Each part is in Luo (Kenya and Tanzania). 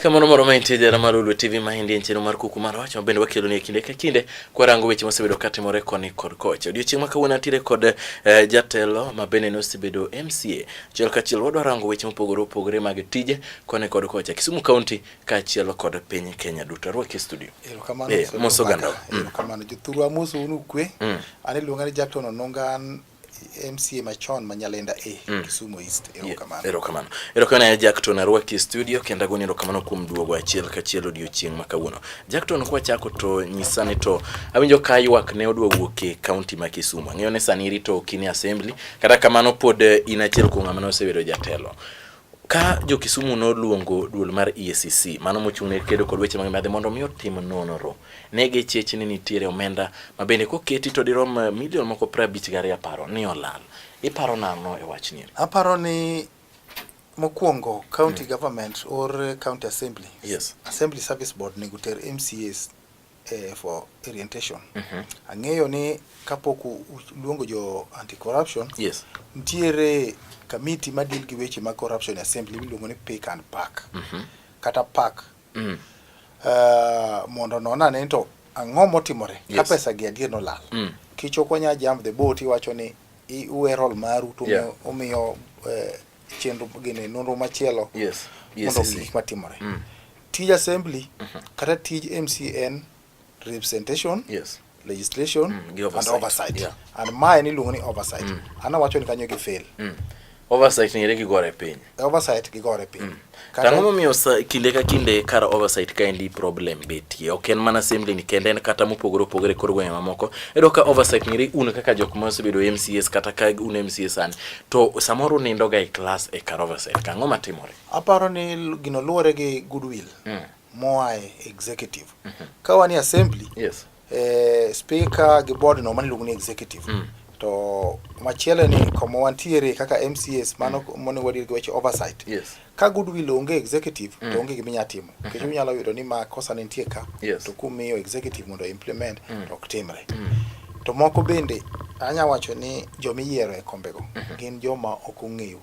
Kamano moro mantie jara mar Ulu TV mahindi en chenro mar kuku mar wach ma bende wakelo ni kinde ka kinde kwa rango weche mosebedo katimore koni kod kocha. Odiochieng' ma kawuono atire kod eh, jatelo ma bende ne osebedo MCA Achiel kachiel wadwa rango weche mopogore opogore mag tije kone kod kocha Kisumu County kaachiel kod piny Kenya duto. Arwak e studio. Erokamano. Eh, moso ganda. Mm. Erokamano. Jothuru amoso unu kwe. Mm. An iluonga ni Jackton Ononga an MCA machon ma Nyalenda A e, mm. Kisumu East. Erokamano. Yeah, erokamano. Erokamano ya Jackton arwaki e studio kendo agoni erokamano kuom duogo achiel kachiel odiochieng' ma kawuono. Jackton kwa chako to nyisa ni to awinjo ka ywak ne oduogo ke county ma Kisumu. Ang'eyo ni sani irito kini assembly Kata kamano pod eh, in achiel kuom ng'ama nosebedo jatelo ka jo Kisumu noluongo duol mar EACC mano mochung' ne kedo kod weche mag mibadhi mondo mi otim nonro ne gichich ni nitiere omenda ma bende koketi to dirom eh, milion moko piero abich gi ariyo aparo ni olal iparo nano e wach ni aparo ni mokwongo county mm. government or county assembly yes. assembly service board nego ter MCAs eh, for orientation mm -hmm. ang'eyo ni kapok luongo jo anti corruption yes. ntiere kamiti ma deal gi weche mag corruption assembly miluongo ni pick and pack mm -hmm. kata pack mm -hmm. uh, mondo nona ne to ang'o motimore yes. ka pesa gi adier nolal mm. kichoko nya jump the boat iwacho ni uwe rol maru to yeah. umiyo uh, chenro gine nonro machielo yes. yes, mondo yes, gik matimore mm. Tij assembly mm -hmm. kata tij MCN representation yes. legislation mm, and oversight, and, oversight. Yeah. and mae ni luongo ni oversight mm. ana wacho ni kanyo gi fail mm. oversight ngere gi gore piny oversight gi gore piny mm. Tang'o momiyo kinde ka kinde kar oversight ka endi problem betie. Ok en mana assembly ni kende en kata mopogore opogore kor gwenge mamoko. Edo ka oversight ngiri un kaka jok ma osebedo MCS kata ka un MCS an to samoro nindo ga e class e kar oversight. Kang'o matimore? Aparo ni gino luwore gi goodwill mm. moa e executive. Mm -hmm. Ka wan e assembly, yes. eh, speaker gi board no mani luongo ni executive. Mm. To machielo ni kama wantiere kaka MCS mano mm. monego wadir gi weche oversight. Yes. Ka goodwill onge executive mm. to onge gima inyalo timo. Mm-hmm. Nikech unyalo yudo ni ma kosa nitie ka yes. to kumiyo executive mondo implement mm. to ok timre. Mm. To moko bende anya wacho ni joma iyiero e kombego mm -hmm. gin joma ok ong'eyo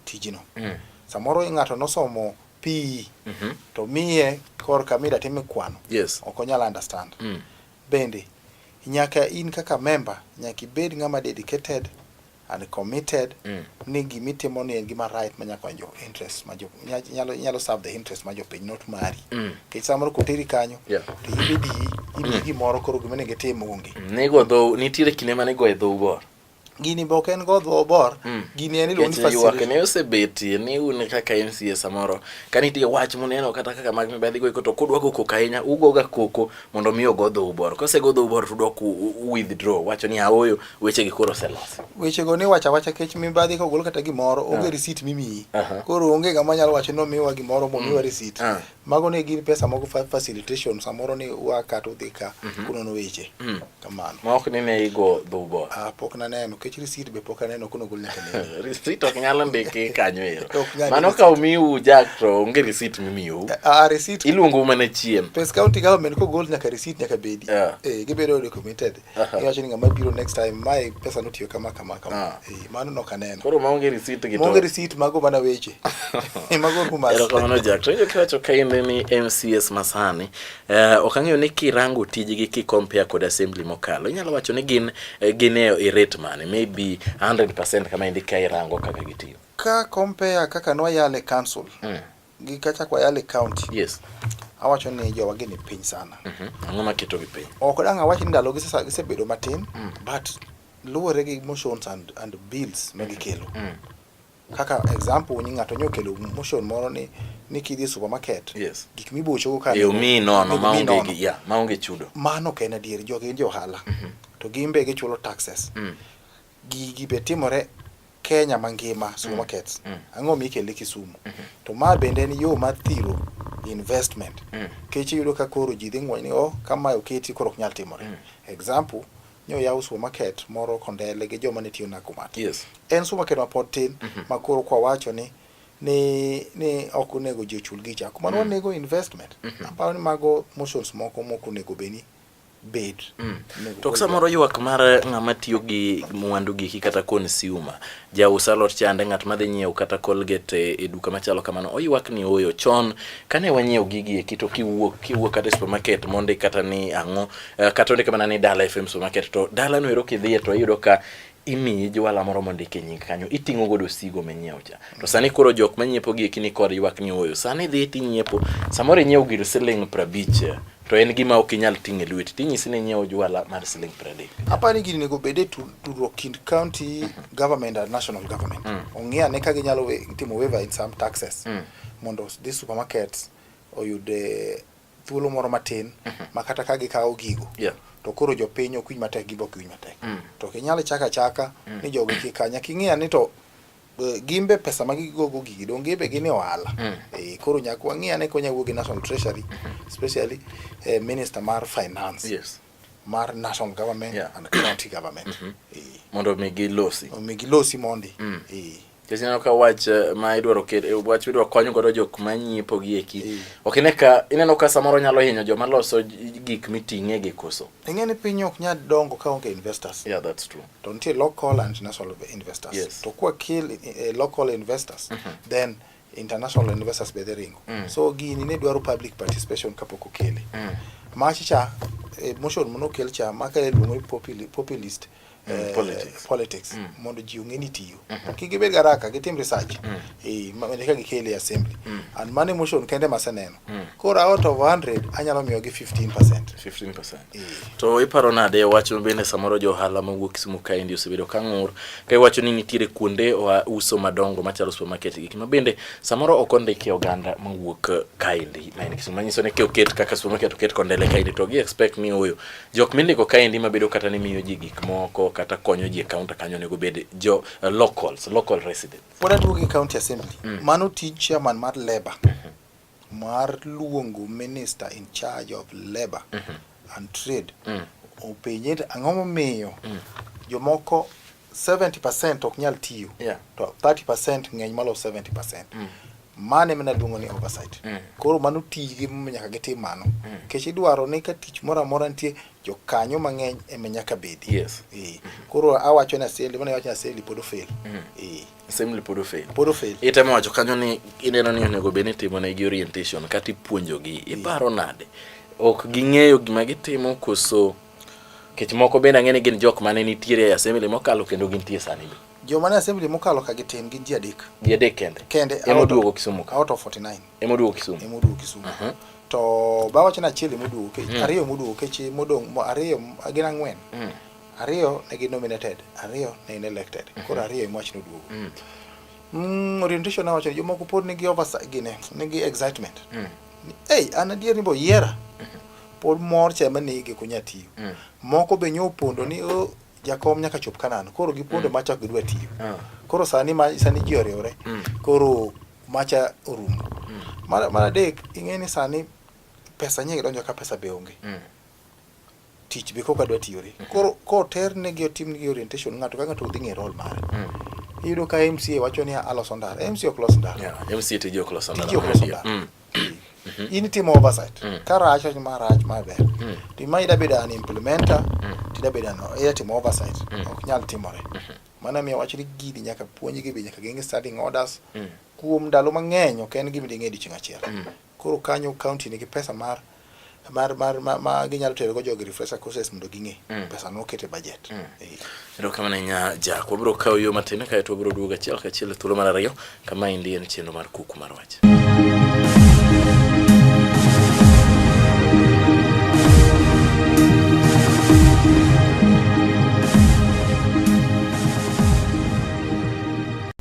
tijno. Mm. Samoro ng'ato nosomo PE mm -hmm. to miye korka mida time kwano. Yes. Ok onyal understand. Mm. Bende nyaka in kaka member nyaka ibed ng'ama dedicated and committed mm. ni gima itimo ni en gima right manya konyo interest ma jo nyalo nyalo serve the interest ma jopiny not mari mm. kech samoro koteri kanyo yeah. to ibidi ibi mm. gimoro koro gima ne gitimo onge mm. nego dho nitiere kinde mane go e dho ugor gini be ok en godho obor mm. gini en iluongo ni facility ne osebetie ni un kaka MCA samoro ka nitie wach muneno kata kaka mag mibadhi go to kudwa go koko ahinya ugo ga koko mondo mi ogodho ubor kose godho ubor to dok withdraw wacho ni aoyo weche gi koro selos weche go ni wacha wacha kech mibadhi ka ogol kata gimoro onge ah. receipt mimiyi koro onge ngama nyalo wacho ni omiwa gimoro momiwa mm. receipt ah. mago ne gin pesa moko facilitation samoro ni wa kata udhi ka mm -hmm. kunono weche mm -hmm. kamano ma ok ni ne igo dhubo ah pok naneno kech receipt be pok aneno kuno gol nyaka ne receipt ok nyalo ndiki kanyo ero mano ka umiu jack to onge receipt mimiu a ah, ah, receipt iluongo mana chien pes county government ko gol nyaka receipt nyaka bedi yeah. eh gibedo documented iwacho ni ng'ama biro next time mae pesa notiyo kama kama kama ah. eh, mano nok aneno koro maonge receipt gi maonge receipt mago mana weche eh, mago rumas erokamano jak to kiwacho ka in ni MCS masani eh, ok ang'eyo ni kirango tijgi ki compare kod assembly mokalo inyalo wacho ni gin gin e rate mane maybe 100% kama indi ka irango kaka gitiyo ka compare kaka nwayale council mm. Gikacha kwa Yale County. Yes. Awacho ni jowa gini piny sana. Mm -hmm. Ang'o maketo gi piny? Ok dang' awach ni ndalo gisesa gisebedo matin mm. but luwore gi motions and, and bills ma gikelo. Mm. Kaka example ni ng'ato nyo kelo motion moro ni ni kidhi e supermarket. Yes. Gik mibocho go ka. Yo mi no no maonge gi ya, maonge chudo. Mano ok en adier jogi gin johala. Mm -hmm. To gimbe gichulo taxes. Mm. Gigi be timore Kenya mangima mm. supermarkets. Mm. Ang'o mi ikele Kisumu? Mm -hmm. To ma bende en yo mar thiro investment. Mm. Kech iyudo ka koro ji dhi ng'weny ni oh kamae oketi koro ok nyal timore. Mm. Example, nyo yaw supermarket moro Kondele gi joma ne tiyo Nakumatt. Yes. En supermarket ma pod tin mm -hmm. ma koro kwa wacho ni ni ni ok onego ji ochul gicha. Kuma mm. onego investment. Mm -hmm. Aparo ni mago motions moko moko onego beni bed. Mm. To samoro ywak mar ng'ama tiyo gi mwandu giki kata consumer, jaus alot chande ng'at madhi nyiewo kata Colgate e duka machalo kamano, oywak ni oyo chon kane wanyiewo gigi eki to kiwuok kiwuok kata e supermarket mondi kata ni ang'o eh, kata ondik mana ni Dala FM supermarket to dala no ero kidhiye to iyudo ka imiyi jwala moro mondike nying kanyo iting'o godo sigo minyiewo cha to sani koro jok manyiepo gi ekini kod ywak ni oyo sani dhi tinyiepo samoro inyiewo gir siling prabich to en gima ok inyal ting' e lweti tinyisi ni inyiewo jwala mar siling pradek apa ni gini nego bede tudruok kind county government and national government mm. ong'e ane ka ginyalo timo waiver in some taxes mm. mondo this supermarkets oyud eh, thuolo moro matin mhm. ma kata ka gikawo gigo yeah. to koro jopiny ok winj matek gibok winj matek mm. to kinyalo chaka achaka mm. ni jogo kik kanya king'eya ni to e, gimbe pesa ma gigogo gigi dong gimbe gin e ohala mm. e, koro nyaka wang'eya ni konya wuogi national treasury mm-hmm. especially eh, minister mar finance yes. mar national government yeah. and county government mm -hmm. e. mondo mi gilosi omi gilosi mondi mm. e. Kech ineno ka wach eh, ma idwaro ket eh, wach idwaro konyo godo jok ma nyiepo gi eki. E. Ok ine ka ineno ka samoro nyalo hinyo joma loso gik miting'e gi koso. Ing'e ni piny ok nyal dongo ka onge investors. Yeah, that's true. To nitie local and national investors. Yes. To kwa kill uh, local investors mm -hmm. then international investors be dhi ringo mm. so gini ne dwaro public participation kapok okele mm. mach cha eh, motion mono kel cha maka iluongo ni populist mm, eh, politics, politics. Mm. mondo ji ong'e ni tiyo mm -hmm. kik gibed garaka gitim research mm. eh, eka gikele e assembly mm. and mano emotion kende maseneno Hmm. Koro out of 100 anyalo miyo gi 15%. 15%. E. To iparo nade wach bende samoro jo ohala mawuok Kisumu kaendi osebedo ka ng'ur ka iwacho ni nitiere kuonde uso madongo machalo supermarket gik ma bende samoro ok ondiki oganda mawuok kaendi ma en Kisumu manyiso ni oket kaka supermarket oket kondele kaendi to gi expect ni oyo jok mindiko kaendi mabedo kata ni miyo ji gik moko kata konyo ji e kaunta kanyo onego bed jo eh, locals local residents. Pod atuo gi county assembly. Mm. Mano tij chairman mar labor. Mm -hmm. mar luongo minister in charge of labor and trade openje ni ang'o momiyo jomoko 70% ok nyal tiyo Yeah. to 30% ng'eny malo 70% mano emana luongo ni oversight koro mano tijgi momiyo nyaka gitim mano nikech idwaro ni ka tich moro amora nitie jokanyo mang'eny ema nyaka bedi Yes. Eh, koro awacho ni aseli mana awacho ni aseli pod ofel Eh. assembly pod ofail pod ofail itemo wacho kanyo ni ineno ni onego bed ni timo ne gi orientation kata ipuonjogi iparo nade ok ging'eyo gima gitimo koso kech moko bende ang'e ni gin jok mane nitiere e assembly mokalo kendo gintie sani be joma ne assembly mokalo ka gitin gin ji adek ji adek kende kende ema oduogo Kisumu ka out of 49 ema oduogo Kisumu ema oduogo Kisumu uh -huh. to bawacho ni achiel ema oduogo kech mm. ariyo ema oduogo kech modong' ariyo gin ang'wen mm. Ariyo ne gi nominated, ariyo ne in elected. Mhm. Koro ariyo ema wachno duogo. Mm. Mm, orientation awacho ni jomoko pod nigi oversight gine, nigi excitement. Mm. Hey, an adier ni bo yiera. Mm -hmm. Pod mor chema ni gi kunya tiyo. Mm. Moko be nyo pondo ni oh, jakom nyaka chop kanan. Koro gi pondo mm. macha gidwa tiyo. Mm. Koro sani ma sani ji oriwre. Mm. Koro macha orumo. Mm. Mara mara dek ing'e ni sani pesa nyingi donjo ka pesa be onge. Mm. tich be koka dwa tiyore mm-hmm. koro koter ne gi otim gi orientation ng'ato ka ng'ato dhi ng'e role mare mm. iyudo ka MCA wacho ni aloso ndara MCA ok los ndara yeah, MCA tije ok los ndara tije ok los ndara mm. mm-hmm. in timo oversight mm. ka rach rach ma rach ma ber mm. to ima ida bedo an implementer mm. tida bedo an ida timo oversight mm. ok nyal timore mm-hmm. mana miyo wach ni gidi nyaka puonj gi be nyaka genge standing orders mm. kuom ndalo mang'eny ok en gima ding'e dichieng' achiel mm. Koro kanyo county nigi pesa mar mar mar ma, ma ginyalo tero go jogi refresher courses mondo ging'e mm. pesa no okete budget mm. Eh. ero kama nenya ja kwa bro kawo yo matin kae to bro duoga chiel ka chiel thuolo mar ariyo kama indi en chenro mar kuku mar wach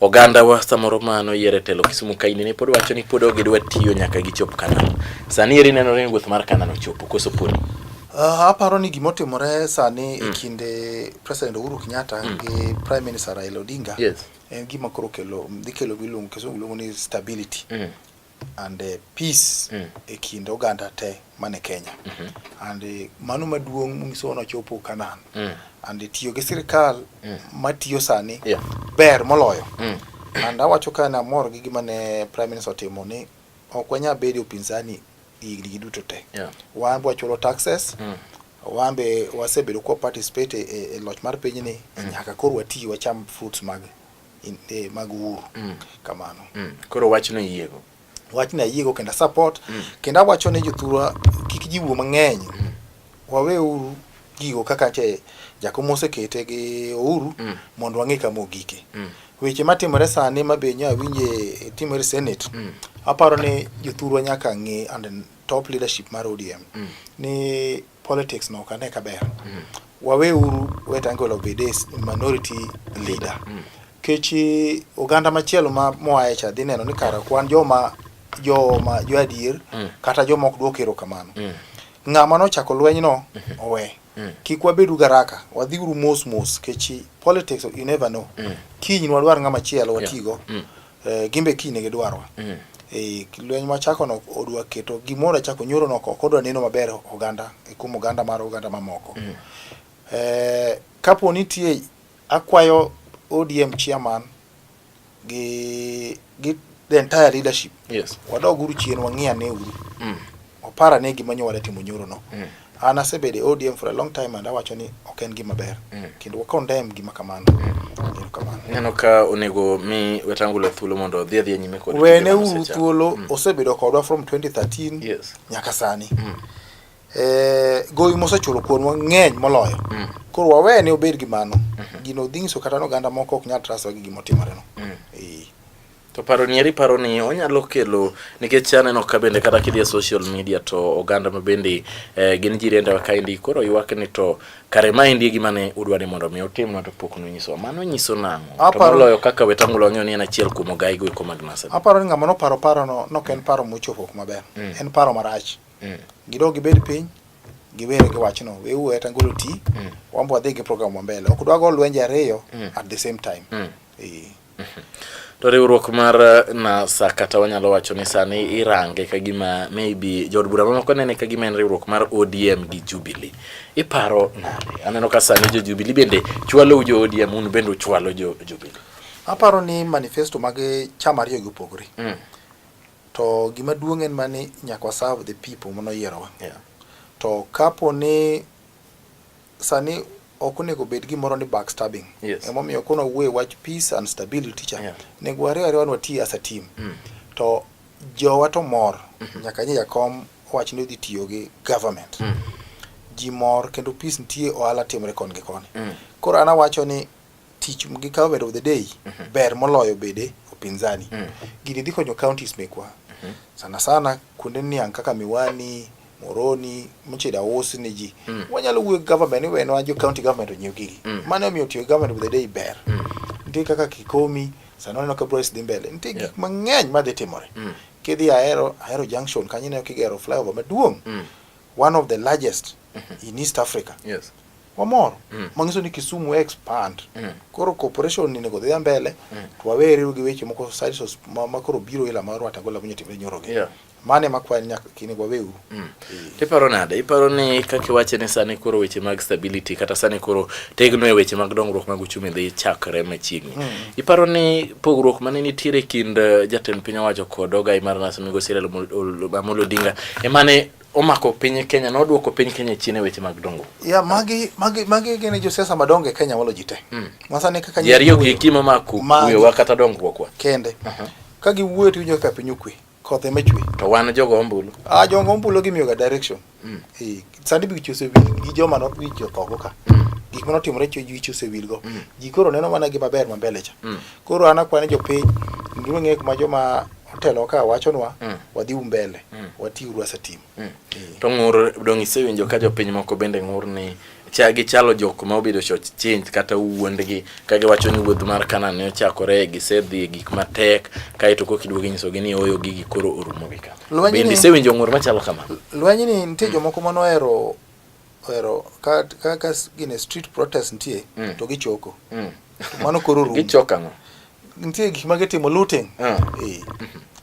oganda wa samoro ma noyiere telo Kisumu kaini ne pod wacho ni pod ogidwa tiyo nyaka gichop Kanan. Sani eri neno ni gweth mar Kanan ochopo koso podi. Uh, aparo ni gima otimore sani mm. e kinde President Uhuru Kenyatta mm. gi Prime Minister Raila Odinga yes. en gima koro kelo dhi kelo giluongo Kisumu luongo ni stability mm. and uh, peace mm. e kind oganda te man e Kenya mm -hmm. and uh, mano maduong' munyiso nochopo Kanan mm. and uh, tiyo gi sirikal mm. matiyo sani yeah. ber moloyo mm. and awacho ka namor gi gima ne prime minister otimo ni ok wanyal bedo upinzani higni gi duto te yeah. wan wachulo taxes mm. wan be wasebedo kwa participate e, e, e loch mar pinyni mm. nyaka koro wati wacham fruits mag eh, mag uhuru mm. kamano mm. koro wachno yiego wachno ayiego kendo support mm. kendo awacho ne jothurwa kik jiwo mang'eny mm. waweuru gigo kaka che jakom mosekete gi ouru mm. mondo wang'e kama ogike mm. weche matimore sani ma be nya winje timore senate mm. aparo ni jothurwa nyaka ng'e and top leadership mar odm mm. ni politics no kane kaber mm. wawe uru wetangolo obede minority leader mm. kech eh, oganda machielo ma moaye cha dhi neno ni kara kwan joma joma jo adier mm. kata joma ok duok erokamano mm. ng'ama nochako lweny no mm -hmm. owe mm. kik wabedu garaka wadhi uru mos mos kech eh, politics you never know mm. kiny nwadwar ng'ama chielo watigo yeah. mm. Eh, gin be kiny ne gidwarwa. Mm. Eh, lweny machako no odwa keto gimoro achako nyoro no ok odwa neno maber oganda e kuom oganda mar oganda mamoko. Mm. Eh, kapo nitie akwayo ODM chairman gi gi the entire leadership. Yes. Wadog uru chien wang'iane uru. Mm. Opara ne gima nyowa timo nyoro no. Mm. An asebedo e ODM for a long time and awacho ni ok en gima ber. Mm. Kendo wa condemn gima kamano. Mm. Kamano. Neno ka onego mi Wetangula thuolo mondo odhi adhi nyime kod. Wene uru thuolo mm. osebedo kodwa from 2013 yes. nyaka sani. Mm. Eh, gowi mosechulo kuonwa ng'eny moloyo mm. koro wawe ni obed gi mano mm -hmm. gino dhi nyiso kata ni oganda moko ok nyal traswa gi gima otimoreno mm. To paro ni eri paro ni onyalo kelo nikech aneno ka bende kata kidhi e social media to oganda ma bende eh, gin jirende wa kaendi koro ywak ni to kare ma endi e gima ne udwa ni mondo mi utim to pok nonyiso mano nyiso nang'o to Aparo- moloyo kaka wetangula wang'eyo ni en achiel kuom ogai go eko mag NASA aparo ni ng'ama noparo parono nok en paro mochopo kuma ber Mm. en paro marach Mm. gidog gibed piny giwere gi wachno wewu eta ngolo ti Mm. wambo wadhi gi program wa mbele ok dwago lwenje ariyo Mm. at the same time Mm. Eh. To riwruok mar eh, NASA kata wanyalo wacho ni sani irange ka gima maybe jood bura mamoko nene ka gima en riwruok mar ODM gi Jubilee. Iparo nade? Aneno ka sani jo Jubilee bende chwalo jo ODM un bende uchwalo jo Jubilee. Aparo ni manifesto mag chama ariyo gi opogore. Mm. To gima duong' en mani nyaka serve the people mano yierowa. Yeah. To kapo ni Sani ok onego bed gimoro ni backstabbing. Yes. Emomiyo kono wuoye wach peace and stability cha. Yeah. Nego wariyo ariyo wan wati as a team. Mm. To jowa to mor. Mm -hmm. Nyaka nye jakom wach ni odhi tiyo gi government. Mm. Ji mor kendo peace nitie ohala timre kon gi koni. Mm. Koro ana wacho ni tich gi government of the day mm -hmm. ber moloyo bede upinzani. Mm. Gini dhi konyo counties mekwa. Mm -hmm. Sana sana kuonde niang' kaka Miwani, Moroni, moche da us ni ji. Mm. Wanyalo wuoyo government, iwe nwa jo county government onyiew gigi. Mm. Mano omiyo tiyo government with the day ber. Mm. Nitie kaka Kikomi, sano oneno ka Bryce dhi mbele. Nitie yeah. gik mang'eny ma dhi timore. Mm. Kidhi Ahero, Ahero Junction, kanyo ineno kigero flyover maduong'. Mm. One of the largest mm -hmm. in East Africa. Yes. Wamor. Mm. Mangiso ni Kisumu expand. Mm. Koro corporation ni nego dhi mbele. Mm. Twaweri gi weche moko side makoro biro ila marwa tagola bunyo timre nyoroge. Yeah. mane makwa en nyaka kini wawewu mm. iparo nade iparo ni kaka iwache ni sani koro weche mag stability kata sani koro tegno e weche mag dongruok mag uchumi dhi chakre machiegni mm. iparo ni pogruok mane nitiere kind eh, jatend piny owacho kod ogai mar nas migosi Raila Amolo Odinga emane omako piny Kenya na oduoko piny Kenya chini e weche mag dongo. Ya magi magi magi gene jo siasa madongo e Kenya walo jite. Mm. Masane kaka yariyo gi kimo maku kuyo wakata dongruok kwa. Kende. Uh -huh. Ka giwuoyo to winjo ka piny okwe. koth ema chwe to wan jogo ombulu ah jogo ombulu gimiyo ga direction mm. eh sandi bi chuse wi gi joma no wi jo thogo ka mm. gik mano timore chwe ji chuse wi go mm. ji koro neno mana gi maber ma mbele cha mm. koro ana kwane jo piny nduru ng'e kuma joma otelo ka wachonwa mm. wadhi umbele mm. wati urwa sa timo Mm. To ng'ur dong' isewinjo ka jopiny moko bende ng'ur ni cha gichalo jok ma obedo short change kata wuondgi ka giwacho ni wuoth mar Kanaan ne ochakore gisedhi e gik matek kaeto kok iduogo inyisogi ni oyo gigi koro orumo gi ka. Bende isewinjo ng'ur machalo kamano? Lweny ni nitie jomoko mane ohero ohero ka ka ka gine street protest nitie mm. to gichoko. Mm. Mano koro rum. Gichoko ang'o? Nitie gik ma gitimo looting. Ah. Eh.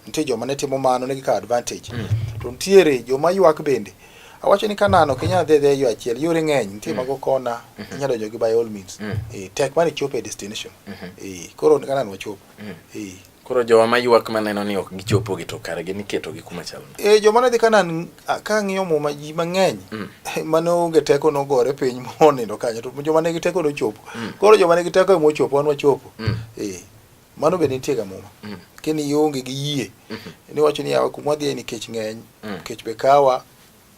Nitie joma ne timo mano ne gikawo advantage. Mm. To nitiere joma ywak bende. Awacho ni Kanaan ok inyal dhi dhi yo achiel, yore ng'eny, nitie mm. mago kona, mm-hmm. inyalo donjo gi by all means. Mm. Eh, tek mane chopo e destination. Mm-hmm. Eh, koro Kanaan wachopo. Mm. Eh. Koro jowa mayuak maneno ni ok gichopo gi to kare gin iketo gi kuma chal nade? Eh, joma ne dhi Kanaan a- ka ng'iyo muma ji mang'eny Mm. mane onge teko nogore piny monindo kanyo to joma ne gi teko nochopo. Mm. Koro joma ne gi teko ema ochopo wan wachopo. Mm. Eh, mano be nitie ga muma. Mm. Kini ionge gi yie Mhm. niwacho ni yawa kuma wadhiye nikech ng'eny Mm. kech be kawa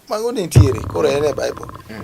Mago nitiere, koro en e Bible. Mm.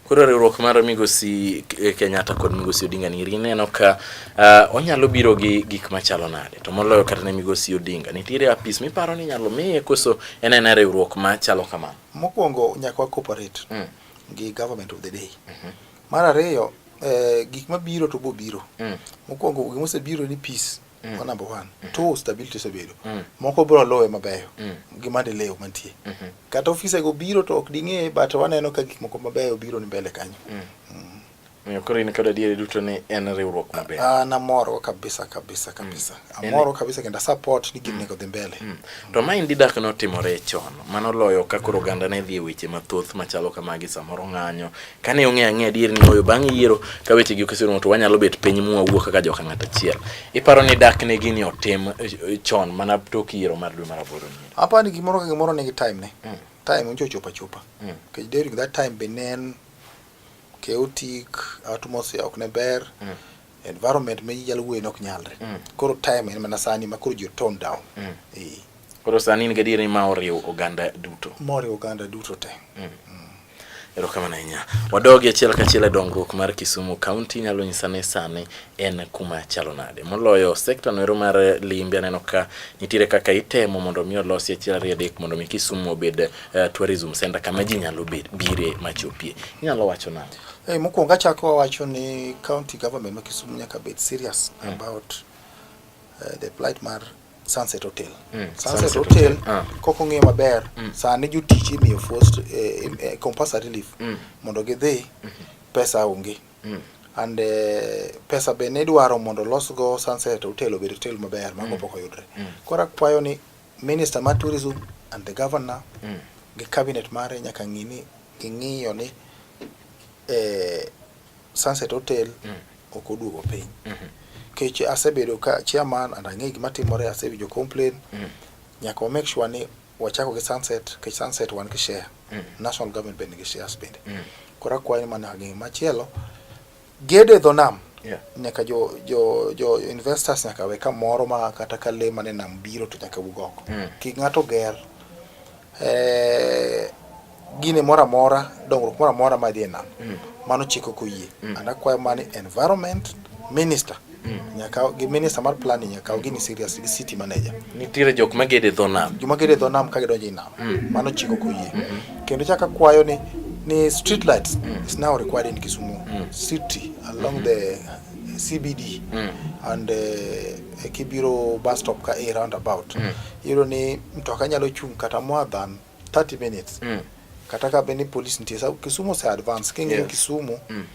Koro riwruok mar Migosi eh, Kenyatta kod Migosi Odinga niri ineno ka uh, onyalo biro gi gik machalo nade to moloyo kata ne Migosi Odinga nitiere apis miparo ni inyalo miye koso en en riwruok machalo kamano. Mokwongo nyaka wa cooperate mm. gi government of the day. Mm -hmm. Mar ariyo eh, gik mabiro to bobiro. Mm. Mokwongo gimosebiro ni peace mm. ma number one mm. two stability osebedo mm. moko bro lowe mabeyo mm. gi maendeleo mantie mm -hmm. kata ofise go biro to ok ding'e but waneno ka gik moko mabeyo biro ni mbele kanyo mm. mm. Miyo koro in kod adieri duto ni en riwruok maber. Ah, namoro kabisa kabisa mm. kabisa. Mm. Amoro kabisa kenda support ni gini mm. kodhi mbele. Mm. To ma indi dak no timore chon. Mano loyo ka koro oganda ne dhi e weche mathoth machalo kamagi samoro ng'anyo, kane ong'eyo ang'eya adier ni oyo bang' yiero ka wechegi okeserumo to wanyalo bet piny mwawuo kaka joka ng'at achiel iparo ni dak ne gini otim eh, chon mana tok yiero mar dwe mar aboro ni apa ni gimoro ka gimoro nigi time ne mm. time oncho chopa chopa mm. kech during that time be ne en chaotic atmosphere ok ne ber mm. environment ma ji nyalo wuoye nok nyalre mm. koro time en mana sani ma koro ji tone down mm. e. koro sani in gadier ni ma oriwo oganda duto ma oriwo oganda duto te mm. mm. erokamano ahinya wadogi achiel kachiel e dongruok mar kisumu kaunti nyalo nyisa ni sani en kuma chalo nade moloyo sekta noero mar limbe aneno ka nitiere kaka itemo mondo mi olosi achiel ariyo adek mondo mi kisumu obed uh, tourism center kama ji nyalo bire machopie inyalo wacho nade Hey, eh, mokwongo achako wawacho ni county government ma Kisumu nyaka bed serious mm. about uh, the plight mar Sunset Hotel. Mm. Sunset, Sunset Hotel, Hotel. Ah. kok ong'eyo maber mm. sani jotich imiyo forced uh, uh, compulsory relief mm. mondo gidhi mm -hmm. pesa onge mm. and uh, pesa be ne idwaro mondo losgo Sunset Hotel obed hotel maber mago mm. pok oyudre mm. koro akwayo ni Minister ma tourism and the governor mm. gi cabinet mare nyaka ng'i ni ging'iyo ni eh, Sunset Hotel mm. ok oduogo piny mm -hmm. Kech asebedo ka chairman and ang'e gima timore asewinjo complain mm. nyaka wa make sure ni wachako gi Sunset kech Sunset wan gi share mm. national government bende nigi shares bende mm. kora kwayo mana ng'e machielo Gedo e dho nam yeah. Nyaka jo, jo, jo investors nyaka we kamoro ma kata ka le mane nam biro to nyaka wuog oko mm. Kik ng'ato ger eh, gine moro amora dongruok moro amora madhi e nam mm. Mano chiko koyie mm. And akwayo mani environment minister Mm. Nyaka gi minister mar planning nyaka kaw gini serious gi city manager. Nitiere jok ma gede dho nam. Joma gede dho nam ka gidonjo e nam. Mm. Mano chiko koyie. Mm -hmm. Kendo chaka kwayo ni ni street lights mm. is now required in Kisumu mm. city along mm -hmm. the CBD mm. and uh, Kibiro bus stop ka a roundabout. Mm. Yero ni mtoka nyalo chung kata more than 30 minutes. Mm. Kata ka beni police nitie. Kisumu se advance kingi yes. Kisumu. Mm.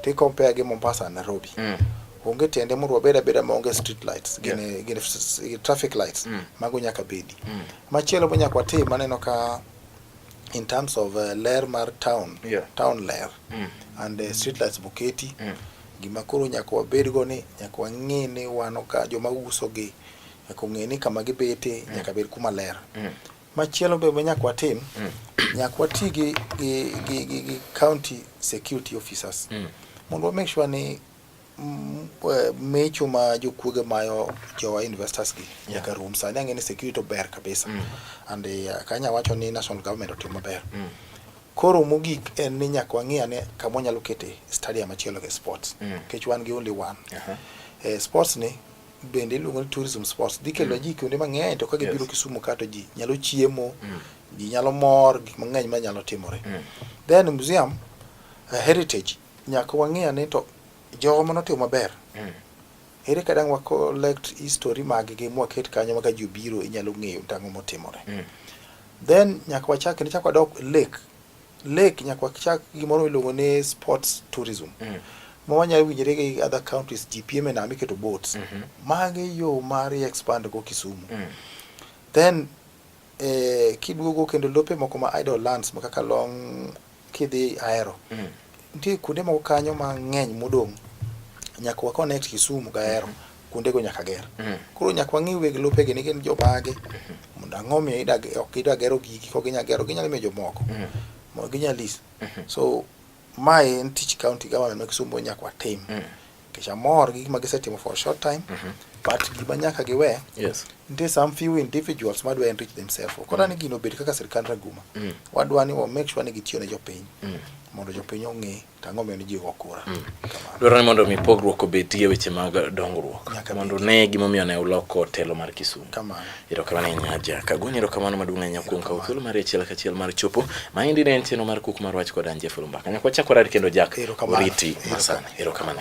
to i compare gi Mombasa and Nairobi mm. onge tiende mondo wabed abeda maonge street lights gin yeah. gin traffic lights mm. mago nyaka bedi mm. machielo bo nyaka watim maneno ka in terms of uh, ler mar town yeah. town ler mm. and uh, street lights boketi mm. gima koro nyaka wabed go ni nyaka wang'e ni wano ka joma uso gi nyaka ong'e ni kama gibete mm. nyaka bed kuma ler mm. Machielo be nyaka watim mm. nyaka wati gi, gi, gi, gi, gi county security officers mm. mondo wa make sure ni mm, eh, mecho ma jokuoge mayo jowa investors gi nyaka yeah. rum sani ang'e ni security ober kabisa mm. and uh, kanya wacho ni national government otim maber mm. koro mogik en ni nyaka wang'i ane kama wanyalo kete stadium achielo gi sports mm. kech wan gi only one uh -huh. eh, sports ni bende iluongo ni tourism sports dhi kelo mm. ji kuonde mang'eny to ka gibiro Kisumu kato ji nyalo chiemo mm. ji nyalo mor gik mang'eny ma nyalo timore mm. then museum uh, heritage nyaka wang'e ane to jogo mane otimo maber ere kadang' wa collect history mag gi mwaket kanyo maka ji obiro inyalo ng'eyo tang'o motimore then nyaka wachak ne chak wadok lake Lake nyaka wachak gimoro miluongo ni sports tourism. Mm. Ma wanyalo winjore gi other counties ji piem e nam iketo boats. Mm -hmm. Mage yo mar expand go Kisumu. Mm. Then eh, kiduogo kendo lope moko ma idle lands ma kaka long kidhi Ahero. Mm. Nitie kuonde moko kanyo mang'eny modong' nyaka wa connect Kisumu gi Ahero. Mm -hmm. kuondego nyaka ger. Mm. Koro nyaka wang'e weg lopegi ni gin jomage mm-hmm. mondo ang'o miyo ok gidwa gero gigi kok ginyalo gero ginyalo miyo jomoko mm. mondo ginyal lis. Mm-hmm. So mae en tich county government ma Kisumo nyaka watim nikech mm. amor gi gik ma gisetimo for a short time mm-hmm. but gima nyaka giwe yes. nitie some few individuals madwa enrich themselves ok odwa ni gino obed kaka sirkand raguma wadwa ni wa make sure ni gitiyo ne jopiny mondo jopiny ong'e Tang'o miyo ni ji go kura. Mm. Dwaro ni mondo mi pogruok obetie weche mag dongruok mondo ne gimomiyo ne uloko telo mar Kisumu. Kamano. Erokamano ahinya Aja Kagweny, erokamano maduong' ahinya kuom kawo thuolo mar achiel kachiel mar chopo. Maendi ne en chenro mar Kuku mar Wach kod Ann Jeffrey Mbaka. Nyaka wachak warad kendo Jack oriti masani. Erokamano.